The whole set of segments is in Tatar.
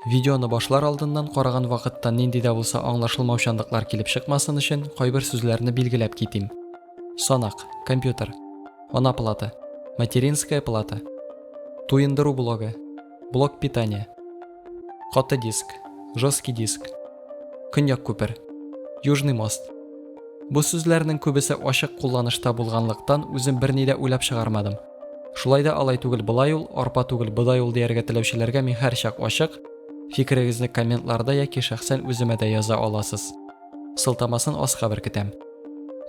Видеоны башлар алдыннан караган вакытта нинди дә булса аңлашылмаучанлыклар килеп чыкмасын өчен, кайбер сүзләрне билгеләп китим. Санак, компьютер, ана плата, материнская плата, туендыру блогы, блок питания, каты диск, жесткий диск, көньяк күпер, южный мост. Бу сүзләрнең күбесе ачык кулланышта булганлыктан, үзем берни дә уйлап чыгармадым. Шулай да алай түгел болай ул, арпа түгел бодай ул дияргә теләүчеләргә мин һәрчак ачык, фикерегезне комментларда яки шәхсән үземә дә яза аласыз. Сылтамасын аска беркетәм.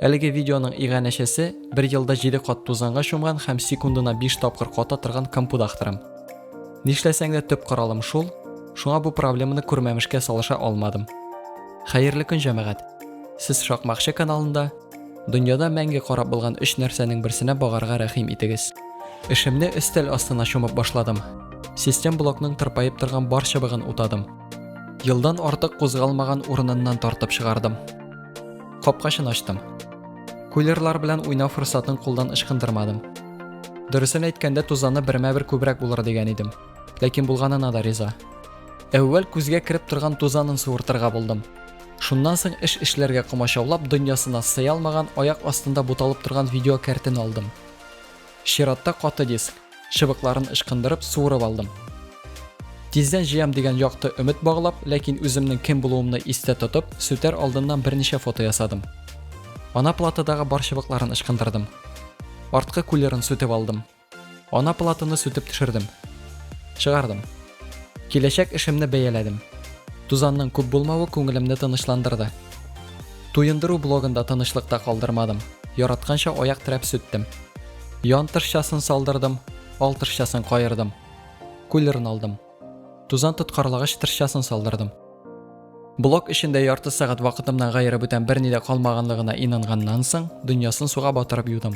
Әлеге видеоның иганәчесе, бер елда җиде кат тузанга чумган һәм секундына биш тапкыр ката торган компудахтырым. Нишләсәң дә төп коралым шул, шуңа бу проблеманы күрмәмешкә салыша алмадым. Хәерле көн, җәмәгать! Сез Шакмакчы каналында, Дөньяда мәңге карап булган өч нәрсәнең берсенә багарга рәхим итегез. Эшемне өстәл астына чумып башладым. Систем блокның тырпаеп торган бар чыбыгын утадым. Елдан артык кузгалмаган урыныннан тартып чыгардым. Капкачын ачтым. Кулерлар белән уйнау форсатын кулдан ычкындырмадым. Дөресен әйткәндә, тузаны бермә-бер күбрәк булыр дигән идем. Ләкин булганына да риза. Әүвәл күзгә кереп торган тузанын суыртырга булдым. Шуннан соң эш эшләргә комачаулап, дөньясына сыя алмаган, аяк астында буталып торган видеокәртен алдым. Чиратта каты диск. Чыбыкларын ычкындырып, суырып алдым. Тиздән җыям дигән якты өмет баглап, ләкин үземнең кем булуымны истә тотып, сүтәр алдыннан берничә фото ясадым. Ана платадагы бар чыбыкларын ычкындырдым. Арткы кулерын сүтеп алдым. Ана платаны сүтеп төшердем. Чыгардым. Киләчәк эшемне бәяләдем. Тузанның күп булмавы күңелемне тынычландырды. Туендыру блогында тынычлыкта калдырмадым. Яратканча аяк терәп сүттем. Ян тышчасын салдырдым, ал тышчасын каердым. Кулерын алдым. Тузан тоткарлагыч тышчасын салдырдым. Блок эчендә ярты сәгать вакытымнан гаерып үтәм берни дә калмаганлыгына инанганнан соң, дөньясын суга батырып юдым.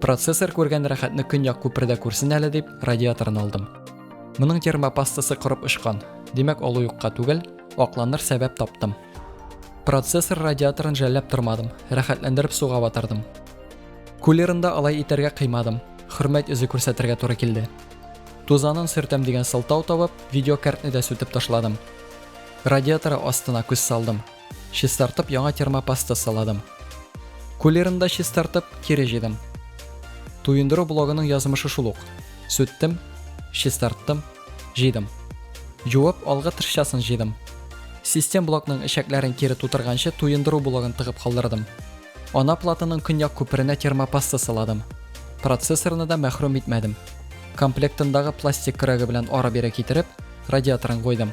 Процессор күргән рәхәтне көньяк күпердә күрсен әле дип, радиаторын алдым. Моның термопастасы корып очкан, димәк алу юкка түгел, акланыр сәбәп таптым. Процессор радиаторын жәлләп тормадым, рәхәтләндереп суга батырдым. Кулерында алай итәргә кыймадым, хөрмәт эзе күрсәтергә туры килде. Тузанын сөртәм дигән сылтау табып, видеокартны да сүтеп ташладым. Радиаторы астына күз салдым. Чистартып яңа термопаста сыладым. Кулерын да чистартып, кире җыйдым. Туендыру блогының язмышы шул ук. Сүттем, чистарттым, җыйдым. Җуып, алгы тышчасын җыйдым. Систем блокның эчәкләрен кире тутырганчы туендыру блогын тыгып калдырдым. Ана платаның көньяк күперенә термопаста сыладым. Процессорны да мәхрүм итмәдем. Комплектындагы пластик көрәге белән ара-бирә китереп, радиаторын куйдым.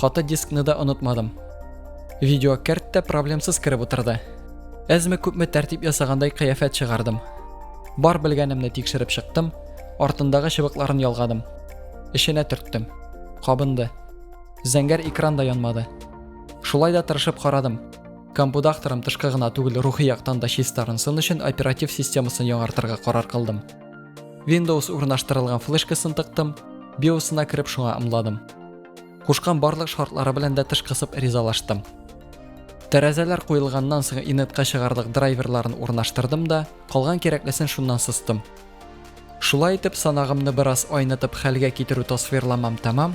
Каты дискны да онытмадым. Видео кәрт тә проблемсыз кереп утырды. Әзме күпме тәртип ясагандай кыяфәт чыгардым. Бар белгәнемне тикшереп чыктым, артындагы чыбыкларын ялгадым. Эшенә төрттем. Кабынды. Зәңгәр экран да янмады. Шулай да тырышып карадым. Компудакторым тышкы гына түгел, рухи яктан да чистарынсын өчен оператив системасын яңартырга карар кылдым. Windows урнаштырылган флешкасын тыктым, биосына кереп шуңа ымладым. Кушкан барлык шартлары белән дә тыш кысып ризалаштым. Тәрәзәләр куелганнан соң инетка чыгарлык драйверларын урнаштырдым да, калган кирәклесен шуннан сыстым. Шулай итеп, санагымны бераз айнытып хәлгә китерү тасвирламам тәмам,